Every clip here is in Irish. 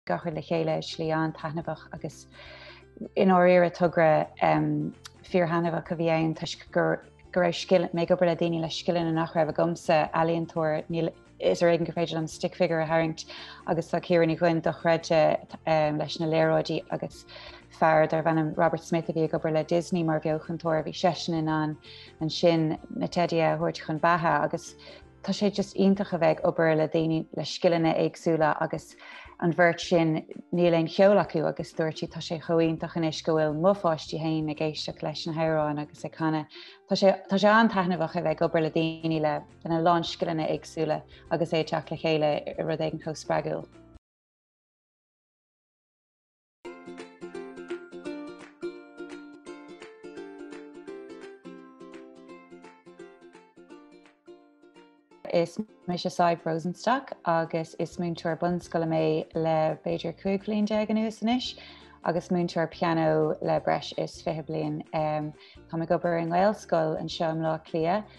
a chur le chéile, slí an-taitneamhach, agus i ndáiríre togra fíorthaitneamhach a bhí ann toisc go raibh mé ag obair le daoine le scileanna nach raibh agamsa, ealaíontóir, is ar éigean gur féidir liom stick figure a tharraingt, agus tá Ciara Ní Dhuinn dochreidte leis na léaráidí agus fear darb ainm Robert Smith a bhí ag obair le Disney mar bheochantóir a bhí seisean in ann ansin na teidí a thabhairt chun beatha agus Tá sé just iontach a bheith ag obair le daoine le scileanna éagsúla agus an bheirt sin níl aon cheol acu agus dúirt siad tá sé chomh iontach anois go bhfuil mo pháistí féin ag éisteacht leis na hamhráin agus ag canadh. Tá sé tá sé an-taitneamhach a bheith ag obair le daoine lena lán scileanna éagsúla agus é ag teacht le chéile i rud éigin chomh spreagúil. Is mise Sadhbh Rosenstock agus is múinteoir bunscoile mé le b'fhéidir 15 bhliain anuas anois agus múinteoir pianó le breis is 20 bliain. Táim ag obair i nGaelscoil anseo i mBleá Cliath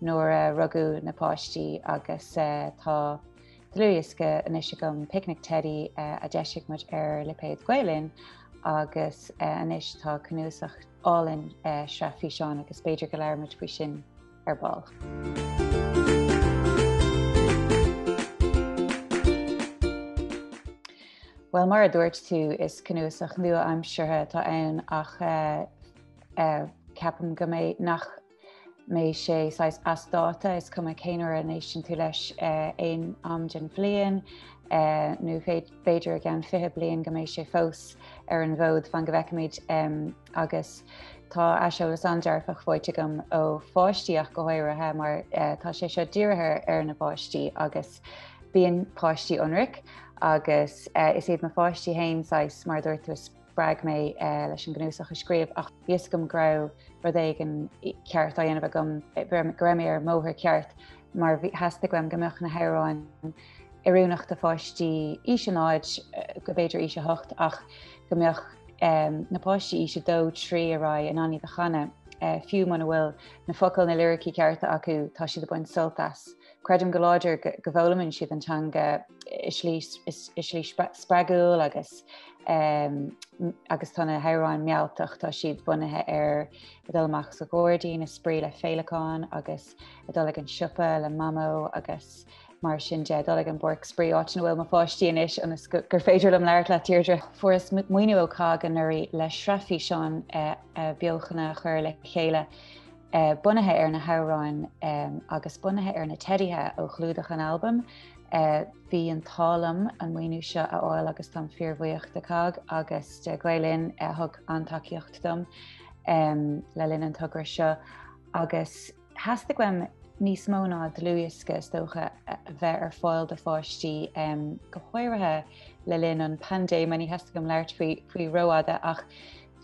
nuair a rugadh na páistí agus tá dlúthdhiosca anois agam, Picnic Teidí, a d'eisigh muid ar lipéad Gael Linn agus anois tá cnuasach álainn sraith físeán agus b'fhéidir go labhróimid faoi sin ar ball. Bhuel mar a dúirt tú is cnuasach nua-aimseartha atá ann ach ceapaim go mbeidh nach mbeidh sé saghas as dáta, is cuma cén uair a n-éisteann tú leis aon am den bhliain, nó b'fhéidir i gceann fiche bliain, go mbeidh sé fós ar an bhfód, fan go bhfeicfimid. Agus tá aiseolas an-dearfach faighte agam ó pháistí ach go háirithe, mar tá sé seo dírithe ar na páistí agus bíonn páistí ionraic, agus is iad mo pháistí féin saghas, mar a dúirt tú, Spreag mé leis an gcnuasach a scríobh ach bhí a fhios agam go raibh rud éigin ceart á dhéanamh agam, go raibh mé ar an mbóthar ceart mar theastaigh uaim go mbeadh na hamhráin oiriúnach do pháistí aois naíonáin, go mb'fhéidir aois a hocht, ach go mbeadh na páistí aois a dó, trí ar aghaidh in ann iad a chanadh, fiú muna bhfuil na focail, na liricí cearta acu, tá siad ag baint sult as. Creidim go láidir go bhfoghlaimeann siad an teanga i slí spreagúil agus agus tá na hamhráin mealltach, tá siad bunaithe ar a dul amach sa ghairdín, a spraoi le féileacáin agus a dul ag an siopa le mamó agus mar sin de dul ag an bpáirc spraoi áit ina bhfuil mo pháistí anois ionas gur féidir liom labhairt leat, Deirdre. Fuaireas maoiniú ó COGG anuraidh le sraith físeán eh, eh, beochana a chur le chéile. bunaithe ar na hamhráin agus bunaithe ar na teidithe ó chlúdach an albaim. Bhí an t-ádh liom an maoiniú seo a fháil agus táim fíorbhuíoch de COGG agus de Gael Linn a thug an-tacaíocht dom le linn an togra seo agus theastaigh uaim níos mó ná dlúthdhiosca is dócha a bheith ar fáil do pháistí go háirithe le linn an paindéime, ní theastaíonn uaim labhairt faoi rófhada ach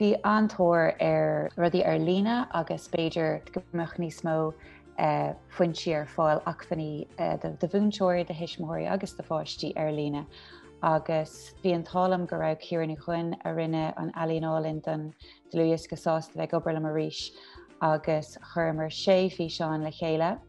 Bhí an-tóir ar rudaí ar líne agus b'fhéidir go mbeadh níos mó foinsí ar fáil, acmhainní do mhúinteoirí, do thuismitheoirí agus do pháistí ar líne. Agus bhí an t-ádh liom go raibh Ciara Ní Dhuinn, a rinne an ealaíon álainn don dlúthdhiosca, sásta a bheith ag obair liom arís agus chuireamar sé físeán le chéile.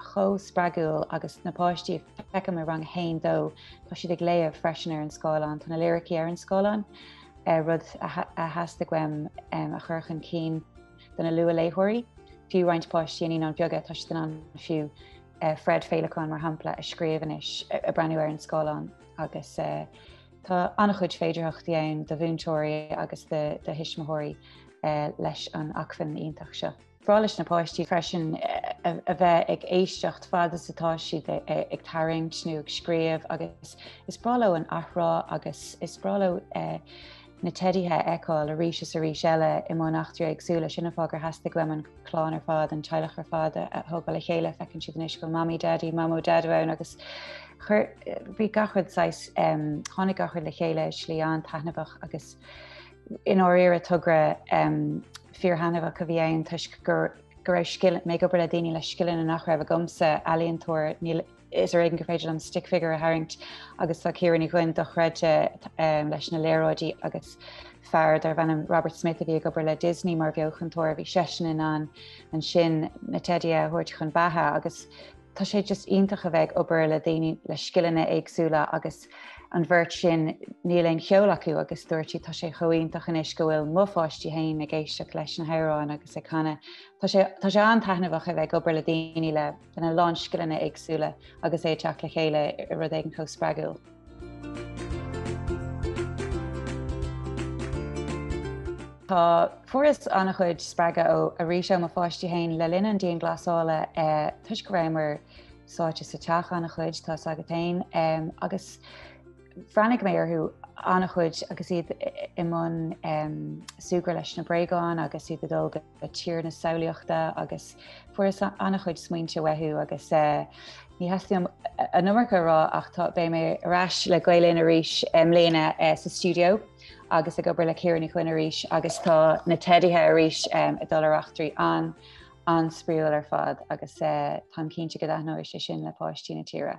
chomh spreagúil agus na páistí feicim i rang a haon dó, tá siad ag léamh freisin ar an scáileán, tá na liricí ar an scáileán, rud a theastaigh uaim a chur chun cinn do na luathléitheoirí, fiú roinnt páistí i naíonáin bheaga, tá siad in ann fiú Fred Féileacán mar shampla a scríobh anois, ag breathnú ar an scáileán agus tá an-chuid féidearthachtaí ann do mhúinteoirí agus do thuismitheoirí leis an acmhainn iontach seo. Is breá leis na páistí freisin a bheith ag éisteacht fad is atá siad ag tarraingt nó ag scríobh agus is breá leo an athrá agus is breá leo na teidithe a fheiceáil arís is arís eile i mbun eachtraí éagsúla. Sin an fáth gur theastaigh liom an clann ar fad, an teaghlach ar fad a thógáil le chéile. Feiceann siad anois go bhfuil Mamaí Daidí, Mamó Daideo ann agus chuir, bhí gach rud saghas, tháinig gach rud le chéile, slí an-taitneamhach agus, I ndáiríre, togra fíorthaitneamhach a bhí ann toisc go raibh scil, mé ag obair le daoine le scileanna nach raibh agamsa, ealaíontóir, níl, is ar éigean gur féidir liom stick figure a tharraingt agus tá Ciara Ní Dhuinn dochreidte leis na léaráidí agus fear darbh ainm Robert Smith a bhí ag obair le Disney mar bheochantóir, bhí seisean in ann ansin na teidithe a thabhairt chun beatha agus Tá sé just iontach a bheith ag obair le daoine le scileanna éagsúla agus an bheirt sin níl aon cheol acu agus dúirt siad tá sé chomh iontach anois go bhfuil mo pháistí féin ag éisteacht leis na hamhráin agus ag canadh. Tá sé tá sé an-taitneamhach a bheith ag obair le daoine le lena lán scileanna éagsúla agus é ag teacht le chéile i rud éigin chomh spreagúil. Tá fuaireas an-chuid spreagadh ó arís ó mo pháistí féin le linn an dianghlasála toisc go rabhamar sáite sa teach an-chuid, tá a fhios agat fhéin, agus bhreathnaigh mé orthu an-chuid agus iad i mbun súgradh leis na bréagáin agus iad ag dul go. a tír na samhlaíochta agus fuaireas an-chuid smaointe uathu agus ní theastaíonn uaim an iomarca a rá ach tá, beidh mé ar ais le Gael Linn arís i mbliana sa stiúideo agus ag obair le Ciara Ní Chuinn arís agus tá na Teidithe arís ag dul ar eachtraí an-spraíúil ar fad agus táim cinnte go dtaitneoidh sé sin le páistí na tíre.